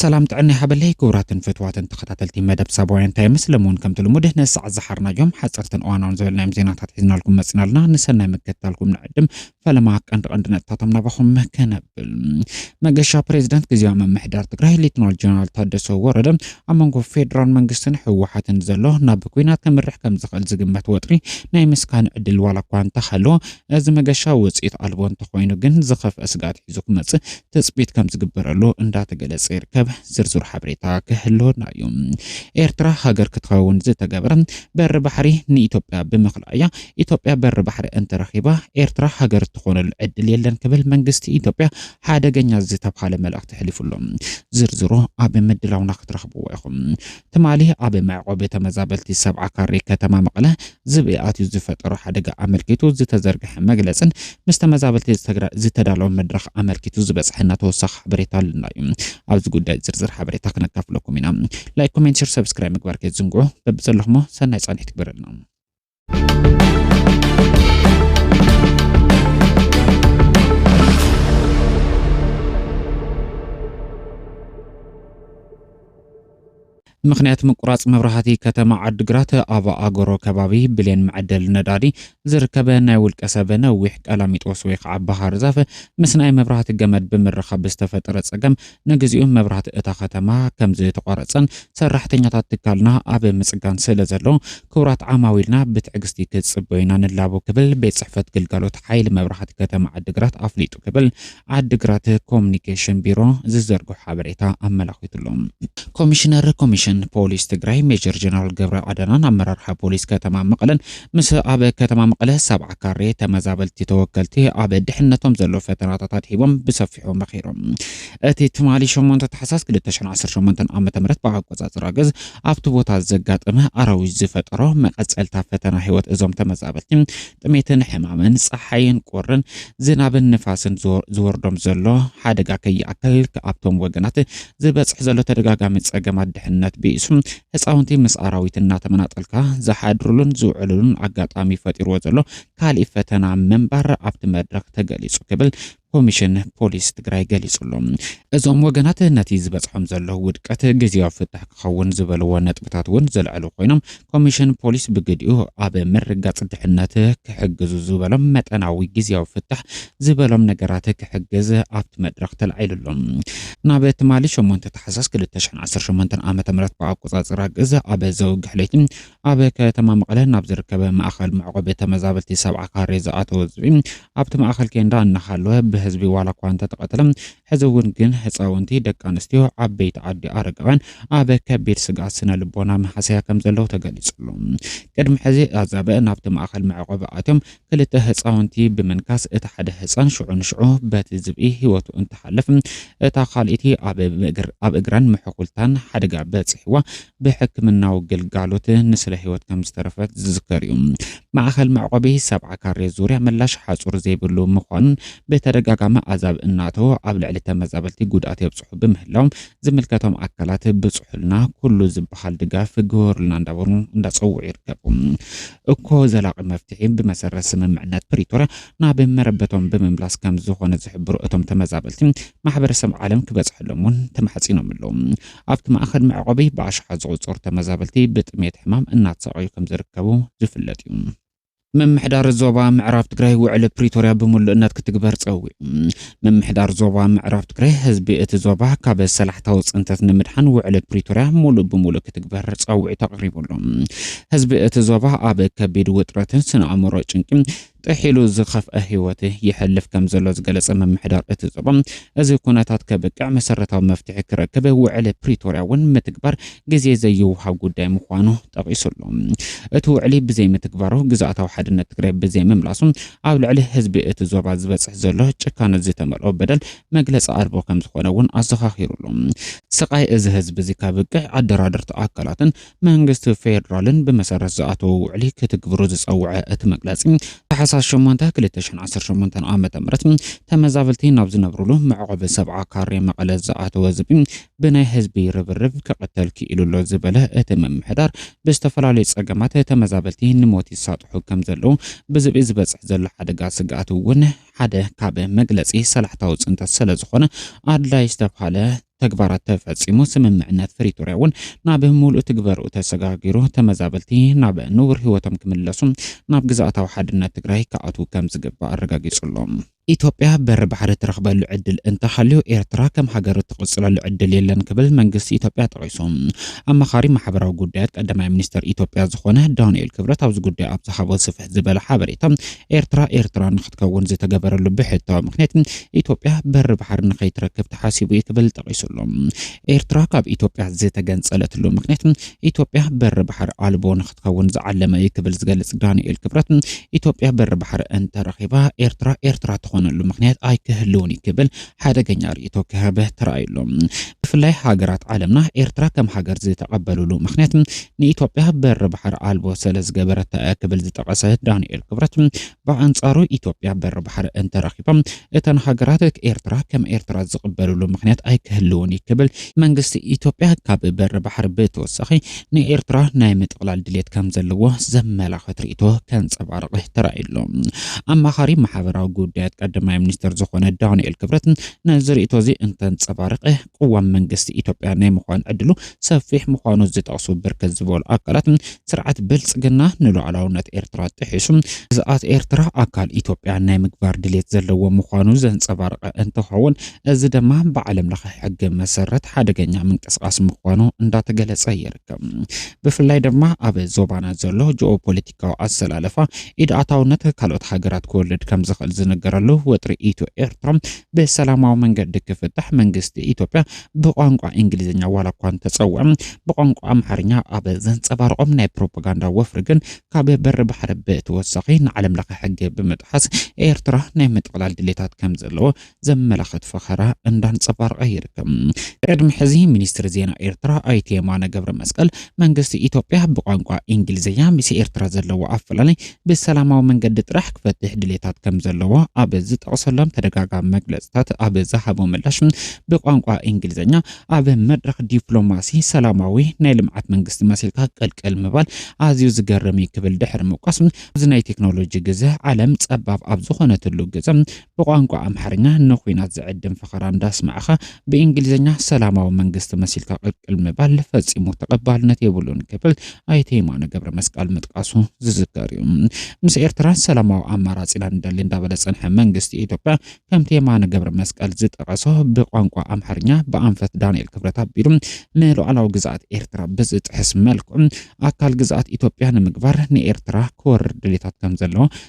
ሰላም ጥዕና ይሃበለይ ክቡራትን ፍትዋትን ተኸታተልቲ መደብ ሳባውያን ታይምስ ሎሚ እውን ከምቲ ልሙድ ንሰዓት ዝሓርናዮም ሓፀርትን እዋናውን ዝበልናዮም ዜናታት ሒዝናልኩም መፅናልና ንሰናይ ምክትታልኩም ንዕድም ፈለማ ቀንዲ ቀንዲ ነጥብታቶም ናባኹም ከነብል መገሻ ፕሬዚዳንት ግዜያዊ ምምሕዳር ትግራይ ሌትናል ጀነራል ታደሰ ወረደ ኣብ መንጎ ፌዴራል መንግስትን ህወሓትን ዘሎ ናብ ኩናት ከምርሕ ከም ዝኽእል ዝግመት ወጥሪ ናይ ምስካን ዕድል ዋላ እኳ እንተሃለዎ እዚ መገሻ ውፅኢት ኣልቦ እንተኾይኑ ግን ዝኸፍአ ስግኣት ሒዙ ክመፅእ ትፅቢት ከም ዝግበረሉ እንዳተገለፀ ይርከብ። ዝርዝር ሓበሬታ ክህልወና እዩ። ኤርትራ ሃገር ክትኸውን ዝተገብረ በሪ ባሕሪ ንኢትዮጵያ ብምኽልኣ እያ። ኢትዮጵያ በሪ ባሕሪ እንተረኺባ ኤርትራ ሃገር እትኾነሉ ዕድል የለን ክብል መንግስቲ ኢትዮጵያ ሓደገኛ ዝተብሃለ መልእኽቲ ሕሊፉ ኣሎ። ዝርዝሩ ኣብ ምድላውና ክትረኽብዎ ኢኹም። ትማሊ ኣብ መዕቆቢ ተመዛበልቲ ሰብዓ ካሬ ከተማ መቐለ ዝብኢ ኣትዩ ዝፈጠሮ ሓደጋ ኣመልኪቱ ዝተዘርገሐ መግለፅን ምስ ተመዛበልቲ ዝተዳለወ መድረኽ ኣመልኪቱ ዝበፅሐና ተወሳኺ ሓበሬታ ኣለና እዩ። ኣብዚ ጉዳይ ዝርዝር ሓበሬታ ክነካፍለኩም ኢና። ላይክ፣ ኮሜንት፣ ሸር፣ ሰብስክራይብ ምግባር ከይትዝንግዑ። በብዘለኹሞ ሰናይ ፃንሒት ይግበረልና። ምክንያት ምቁራፅ መብራህቲ ከተማ ዓድግራት ኣብ ኣጎሮ ከባቢ ብሌን መዐደሊ ነዳዲ ዝርከበ ናይ ውልቀ ሰብ ነዊሕ ቀላሚጦስ ወይ ከዓ ባህር ዛፍ ምስ ናይ መብራህቲ ገመድ ብምርኻብ ዝተፈጠረ ፀገም ንግዚኡ መብራህቲ እታ ከተማ ከምዝተቋረፀን ሰራሕተኛታት ትካልና ኣብ ምፅጋን ስለ ዘሎ ክቡራት ዓማዊልና ብትዕግስቲ ክትጽበዩ ኢና ንላቦ ክብል ቤት ጽሕፈት ግልጋሎት ሓይሊ መብራህቲ ከተማ ዓዲግራት ኣፍሊጡ ክብል ዓዲግራት ኮሙኒኬሽን ቢሮ ዝዘርግሖ ሓበሬታ ኣመላኺቱ ኣሎ። ኮሚሽነር ኮሚሽን ፖሊስ ትግራይ ሜጀር ጀነራል ገብረ ኣደናን ኣመራርሓ ፖሊስ ከተማ መቐለን ምስ ኣብ ከተማ መቐለ ሰብዓ ካሬ ተመዛበልቲ ተወከልቲ ኣብ ድሕነቶም ዘሎ ፈተናታት ኣድሂቦም ብሰፊሑ መኺሮም። እቲ ትማሊ ሸሞንተ ታሕሳስ ክልተ ሽሕን ዓሰርተ ሸሞንተን ዓመተ ምህረት ብኣቆጻጽራ ግእዝ ኣብቲ ቦታ ዘጋጠመ ኣራዊት ዝፈጠሮ መቐጸልታ ፈተና ህይወት እዞም ተመዛበልቲ ጥሜትን ሕማምን ጸሓይን ቁርን ዝናብን ንፋስን ዝወርዶም ዘሎ ሓደጋ ከይኣክል ኣብቶም ወገናት ዝበጽሕ ዘሎ ተደጋጋሚ ጸገማት ድሕነት ብኢሱ ህፃውንቲ ምስ ኣራዊት እናተመናጠልካ ዝሓድሩሉን ዝውዕሉሉን ኣጋጣሚ ፈጢርዎ ዘሎ ካሊእ ፈተና ምንባር ኣብቲ መድረኽ ተገሊጹ ክብል ኮሚሽን ፖሊስ ትግራይ ገሊፁ'ሎ። እዞም ወገናት ነቲ ዝበፅሖም ዘሎ ውድቀት ግዜያዊ ፍታሕ ክኸውን ዝበልዎ ነጥብታት እውን ዘልዐሉ ኮይኖም ኮሚሽን ፖሊስ ብግዲኡ ኣብ ምርግጋፅ ድሕነት ክሕግዙ ዝበሎም መጠናዊ ግዜያዊ ፍታሕ ዝበሎም ነገራት ክሕግዝ ኣብቲ መድረኽ ተላዒሉ ኣሎ። ናብ ትማሊ ሸሞንተ ታሕሳስ ክልተ ሽሕን ዓሰርተ ሸሞንተን ዓመተ ምህረት ብኣቆፃፅራ ግእዝ ኣብ ዘወግሕ ለይቲ ኣብ ከተማ መቐለ ናብ ዝርከበ ማእኸል መዕቖቢ ተመዛበልቲ ሰብዓ ካሬ ዝኣተወ ዝብኢ ኣብቲ ማእኸል ኬንዳ እናሃለወ ብህዝቢ ዋላ እኳ እንተተቐተለ ሕዚ እውን ግን ህፃውንቲ፣ ደቂ ኣንስትዮ፣ ዓበይቲ ዓዲ፣ ኣረጋውያን ኣብ ከቢድ ስግኣት ስነ ልቦና መሃሰያ ከም ዘለዉ ተገሊፁ ኣሎ። ቅድሚ ሕዚ ኣዛብእ ናብቲ ማእኸል መዕቆቢ ኣትዮም ክልተ ህፃውንቲ ብምንካስ እቲ ሓደ ህፃን ሽዑ ንሽዑ በቲ ዝብኢ ህይወቱ እንትሓልፍ እታ ካልኢቲ ኣብ እግራን ምሕኩልታን ሓደጋ በፂሕዋ ብሕክምናዊ ግልጋሎት ንስለ ህይወት ከምዝተረፈት ዝዝከር እዩ። ማእኸል መዕቆቢ ሰብዓ ካሬ ዙርያ መላሽ ሓፁር ዘይብሉ ምዃኑን ብተደጋጋሚ ኣዛብእ እናእተወ ኣብ ልዕሊ ተመዛበልቲ ጉድኣት የብፅሑ ብምህላዎም ዝምልከቶም ኣካላት ብፅሑልና ኩሉ ዝበሃል ድጋፍ ግበሩልና እንዳበሉ እንዳፀውዑ ይርከቡ። እኮ ዘላቒ መፍትሒ ብመሰረት ስምምዕነት ፕሪቶርያ ናብ መረበቶም ብምምላስ ከምዝኾነ ዝሕብሩ እቶም ተመዛበልቲ ማሕበረሰብ ዓለም ክበፅሐሎም እውን ተማሕፂኖም ኣለው። ኣብቲ ማእኸል መዕቖቢ ብኣሽሓት ዝቑፀሩ ተመዛበልቲ ብጥምየት ሕማም እናተሳቐዩ ከምዝርከቡ ዝፍለጥ ዩ። ምምሕዳር ዞባ ምዕራብ ትግራይ ውዕሊ ፕሪቶርያ ብምሉእነት ክትግበር ፀዊዑ። ምምሕዳር ዞባ ምዕራብ ትግራይ ህዝቢ እቲ ዞባ ካብ ሰላሕታዊ ፅንተት ንምድሓን ውዕሊ ፕሪቶርያ ሙሉእ ብሙሉእ ክትግበር ፃውዒት ኣቕሪቡሉ። ህዝቢ እቲ ዞባ ኣብ ከቢድ ውጥረትን ስነ ኣእምሮ ጭንቂ ጥሕ ኢሉ ዝኸፍኣ ህይወት የሕልፍ ከምዘሎ ዝገለጸ ምምሕዳር እቲ ዞባ፣ እዚ ኩነታት ከብቅዕ መሰረታዊ መፍትሒ ክረክብ ውዕሊ ፕሪቶርያ እውን ምትግባር ግዜ ዘይውሃብ ጉዳይ ምዃኑ ጠቒሱ ኣሎ። እቲ ውዕሊ ብዘይምትግባሩ፣ ግዝኣታዊ ሓድነት ትግራይ ብዘይምምላሱ ኣብ ልዕሊ ህዝቢ እቲ ዞባ ዝበጽሕ ዘሎ ጭካነ ዝተመልኦ በደል መግለጺ ኣልቦ ከምዝኾነ እውን ኣዘኻኺሩ ኣሎ። ስቓይ እዚ ህዝቢ'ዚ ከብቅዕ ኣደራደርቲ ኣካላትን መንግስቲ ፌደራልን ብመሰረት ዝኣተዎ ውዕሊ ክትግብሩ ዝፀውዐ እቲ መግለፂ፣ ታሕሳስ ሸሞንተ ክልተ ሽሕን ዓሰርተ ሸሞንተን ዓመተ ምህረት ተመዛበልቲ ናብ ዝነብሩሉ መዕቖቢ ሰብዓ ካሬ መቐለ ዝኣተወ ዝብኢ ብናይ ህዝቢ ርብርብ ክቕተል ክኢሉ ኣሎ ዝበለ እቲ ምምሕዳር፣ ብዝተፈላለዩ ፀገማት ተመዛበልቲ ንሞት ይሳጥሑ ከምዘለዉ ብዝብኢ ዝበፅሕ ዘሎ ሓደጋ ስግኣት እውን ሓደ ካብ መግለፂ ሰላሕታዊ ፅንተት ስለዝኾነ ኣድላይ ዝተብሃለ ተግባራት ተፈጺሙ፣ ስምምዕነት ፍሪቶርያ እውን ናብ ሙሉእ ትግበርኡ ተሰጋጊሩ ተመዛበልቲ ናብ ንቡር ህይወቶም ክምለሱ ናብ ግዝኣታዊ ሓድነት ትግራይ ክኣትዉ ከምዝግባእ ኣረጋጊጹ ኣሎ። ኢትዮጵያ በሪ ባሕሪ ትረኽበሉ ዕድል እንተሃልዩ ኤርትራ ከም ሃገር እትቕጽለሉ ዕድል የለን ክብል መንግስቲ ኢትዮጵያ ጠቒሱ። ኣማኻሪ ማሕበራዊ ጉዳያት ቀዳማይ ሚኒስተር ኢትዮጵያ ዝኾነ ዳንኤል ክብረት ኣብዚ ጉዳይ ኣብ ዝሃቦ ስፍሕ ዝበለ ሓበሬታ ኤርትራ ኤርትራ ክትከውን ዝተገበረሉ ብሕታዊ ምክንያት ኢትዮጵያ በሪ ባሕሪ ንኸይትረክብ ተሓሲቡ እዩ ክብል ጠቒሱ ኣሎ። ኤርትራ ካብ ኢትዮጵያ ዝተገንጸለትሉ ምክንያት ኢትዮጵያ በሪ ባሕሪ ኣልቦ ንክትከውን ዝዓለመ እዩ ክብል ዝገልጽ ዳንኤል ክብረት ኢትዮጵያ በሪ ባሕሪ እንተረኺባ ኤርትራ ኤርትራ ትኾነሉ ምክንያት ኣይክህልውን እዩ ክብል ሓደገኛ ርእይቶ ክህብ ተራእዩ ኣሎ። ብፍላይ ሃገራት ዓለምና ኤርትራ ከም ሃገር ዝተቐበልሉ ምክንያት ንኢትዮጵያ በሪ ባሕሪ ኣልቦ ስለ ዝገበረታ እያ ክብል ዝጠቐሰ ዳንኤል ክብረት ብኣንጻሩ ኢትዮጵያ በሪ ባሕሪ እንተረኺባ እተን ሃገራት ኤርትራ ከም ኤርትራ ዝቕበልሉ ምኽንያት ኣይክህልውን እዩ ክብል መንግስቲ ኢትዮጵያ ካብ በሪ ባሕሪ ብተወሳኺ ንኤርትራ ናይ ምጥቕላል ድሌት ከም ዘለዎ ዘመላኽት ርእይቶ ከንጸባርቕ ተራእዩ ኣሎ። ኣማኻሪ ማሕበራዊ ጉዳያት ቀዳማይ ሚኒስተር ዝኾነ ዳንኤል ክብረት ነዚ ርእይቶ እዚ እንተንጸባርቐ ቅዋም መንግስቲ ኢትዮጵያ ናይ ምዃን ዕድሉ ሰፊሕ ምዃኑ ዝጠቕሱ ብርክት ዝበሉ ኣካላት፣ ስርዓት ብልፅግና ንሉኣላውነት ኤርትራ ጥሒሱ ግዝኣት ኤርትራ ኣካል ኢትዮጵያ ናይ ምግባር ድሌት ዘለዎ ምዃኑ ዘንፀባረቐ እንትኸውን እዚ ደማ ብዓለም ለኸ ሕጊ መሰረት ሓደገኛ ምንቅስቓስ ምዃኑ እንዳተገለፀ ይርከብ። ብፍላይ ደማ ኣብ ዞባና ዘሎ ጂኦ ፖለቲካ ፖለቲካዊ ኣሰላልፋ ኢድ ኣታውነት ካልኦት ሃገራት ክወልድ ከምዝኽእል ዝንገረሉ ወጥሪ ኢትዮ ኤርትራ ብሰላማዊ መንገዲ ክፍታሕ መንግስቲ ኢትዮጵያ ብቋንቋ እንግሊዝኛ ዋላ እኳ እንተጸውዐ ብቋንቋ ኣምሓርኛ ኣብ ዘንጸባርቖም ናይ ፕሮፓጋንዳ ወፍሪ ግን ካብ በሪ ባሕሪ ብተወሳኺ ንዓለም ለኸ ሕጊ ብምጥሓስ ኤርትራ ናይ ምጥቕላል ድሌታት ከምዘለዎ ዘመላኸት ፈኸራ እንዳንጸባረቐ ይርከብ። ቅድሚ ሕዚ ሚኒስትሪ ዜና ኤርትራ ኣይተ የማነ ገብረ መስቀል መንግስቲ ኢትዮጵያ ብቋንቋ ኢንግሊዝኛ ምስ ኤርትራ ዘለዎ ኣፈላላይ ብሰላማዊ መንገዲ ጥራሕ ክፈትሕ ድሌታት ከም ዘለዎ ኣብ ዝጠቕሰሎም ተደጋጋሚ መግለጽታት ኣብ ዝሃቦ ምላሽ ብቋንቋ ኢንግሊዝኛ ኣብ መድረኽ ዲፕሎማሲ ሰላማዊ ናይ ልምዓት መንግስቲ መሲልካ ቀልቀል ምባል ኣዝዩ ዝገርም እዩ ክብል ድሕሪ ምውቃስ እዚ ናይ ቴክኖሎጂ ግዘ ዓለም ጸባብ ኣብ ዝኾነትሉ ግዘ ብቋንቋ ኣምሓርኛ ንኩናት ዝዕድም ፈኸራ እንዳስማዕኻ ብእንግሊዝኛ ሰላማዊ መንግስቲ መሲልካ ቅቅል ምባል ፈጺሙ ተቐባልነት የብሉን ክብል ኣይተ የማነ ገብረመስቃል ምጥቃሱ ዝዝከር እዩ። ምስ ኤርትራ ሰላማዊ ኣማራጺ ኢና ንደሊ እንዳበለ ዝጸንሐ መንግስቲ ኢትዮጵያ ከምቲ የማነ ገብረመስቀል ዝጠቐሶ ብቋንቋ ኣምሓርኛ ብኣንፈት ዳንኤል ክብረት ኣቢሉ ንሉዓላዊ ግዝኣት ኤርትራ ብዝጥሕስ መልክዑ ኣካል ግዝኣት ኢትዮጵያ ንምግባር ንኤርትራ ክወርር ድሌታት ከምዘለዎ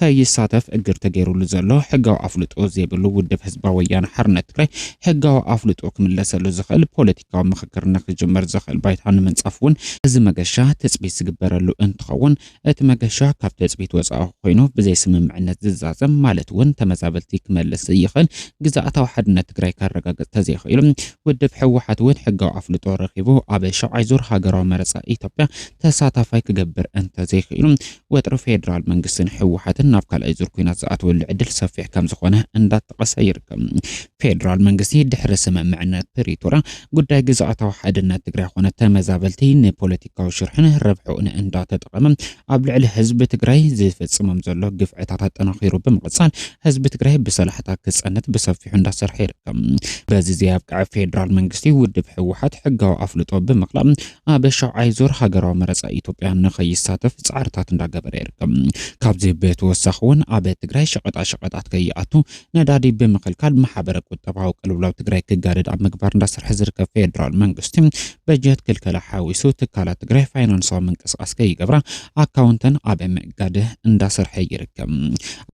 ከይሳተፍ እግድ ተገይሩሉ ዘሎ ሕጋዊ ኣፍልጦ ዘይብሉ ውድብ ህዝባዊ ወያነ ሓርነት ትግራይ ሕጋዊ ኣፍልጦ ክምለሰሉ ዝኽእል ፖለቲካዊ ምኽክር ንክጅመር ዘኽእል ባይታ ንምንፃፍ እውን እዚ መገሻ ትፅቢት ዝግበረሉ እንትኸውን እቲ መገሻ ካብ ትፅቢት ወፃኢ ኮይኑ ብዘይ ስምምዕነት ዝዛዘም ማለት እውን ተመዛበልቲ ክመልስ ዘይኽእል ግዝኣታዊ ሓድነት ትግራይ ከረጋግፅ ተዘይኽኢሉ ውድብ ህወሓት እውን ሕጋዊ ኣፍልጦ ረኺቡ ኣብ ሻብዓይ ዙር ሃገራዊ መረፃ ኢትዮጵያ ተሳታፋይ ክገብር እንተዘይኽኢሉ ወጥሪ ፌደራል መንግስትን ህወሓትን ናብ ካልኣይ ዙር ኩናት ዝኣትወሉ ዕድል ሰፊሕ ከም ዝኾነ እንዳተጠቐሰ ይርከብ። ፌደራል መንግስቲ ድሕሪ ስምምዕነት ፕሪቶርያ ጉዳይ ግዝኣታዊ ሓድነት ትግራይ ኮነ ተመዛበልቲ ንፖለቲካዊ ሽርሕን ረብሕኡን እንዳተጠቐመ ኣብ ልዕሊ ህዝቢ ትግራይ ዝፍጽሞም ዘሎ ግፍዕታት ኣጠናኺሩ ብምቕጻል ህዝቢ ትግራይ ብሰላሕታ ክጸንት ብሰፊሑ እንዳሰርሐ ይርከብ። በዚ ዘየብቅዐ ፌደራል መንግስቲ ውድብ ህወሓት ሕጋዊ ኣፍልጦ ብምቕላብ ኣብ ሻውዓይ ዙር ሃገራዊ መረፃ ኢትዮጵያ ንኸይሳተፍ ፃዕርታት እንዳገበረ ይርከብ። ካብዚ ብተወሳኺ እውን ኣብ ትግራይ ሸቐጣሸቐጣት ከይኣቱ ነዳዲ ብምኽልካል ማሕበረ ቁጠባዊ ቅልውላው ትግራይ ክጋደድ ኣብ ምግባር እንዳሰርሐ ዝርከብ ፌዴራል መንግስቲ በጀት ክልከላ ሓዊሱ ትካላት ትግራይ ፋይናንሳዊ ምንቅስቓስ ከይገብራ ኣካውንተን ኣብ ምእጋድ እንዳሰርሐ ይርከብ።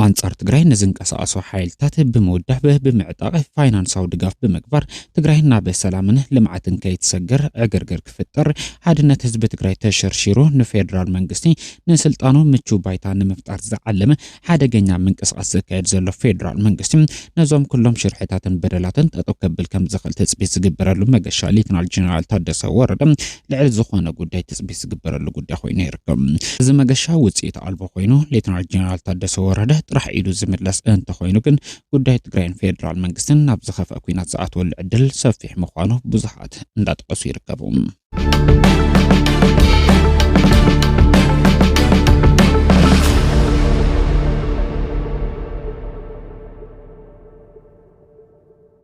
ኣንፃር ትግራይ ንዝንቀሳቐሱ ሓይልታት ብምውዳብ ብምዕጣቕ ፋይናንሳዊ ድጋፍ ብምግባር ትግራይ ናብ ሰላምን ልምዓትን ከይትሰገር ዕግርግር ክፍጠር ሓድነት ህዝቢ ትግራይ ተሸርሺሩ ንፌዴራል መንግስቲ ንስልጣኑ ምቹው ባይታ ንምፍጣር ዝዓለመ ሓደገኛ ምንቅስቓስ ዘካየድ ዘሎ ፌዴራል መንግስቲ ነዞም ኩሎም ሽርሕታትን በደላትን ጠጠው ከብል ከም ዝኽእል ትፅቢት ዝግበረሉ መገሻ ሌትናል ጀነራል ታደሰ ወረደ ልዕል ዝኾነ ጉዳይ ትፅቢት ዝግበረሉ ጉዳይ ኮይኑ ይርከብ። እዚ መገሻ ውፅኢት ኣልቦ ኮይኑ ሌተናል ጀነራል ታደሰ ወረደ ጥራሕ ኢዱ ዝምለስ እንተኾይኑ ግን ጉዳይ ትግራይን ፌዴራል መንግስትን ናብ ዝኸፍአ ኩናት ዝኣትወሉ ዕድል ሰፊሕ ምዃኑ ብዙሓት እንዳጠቐሱ ይርከቡ።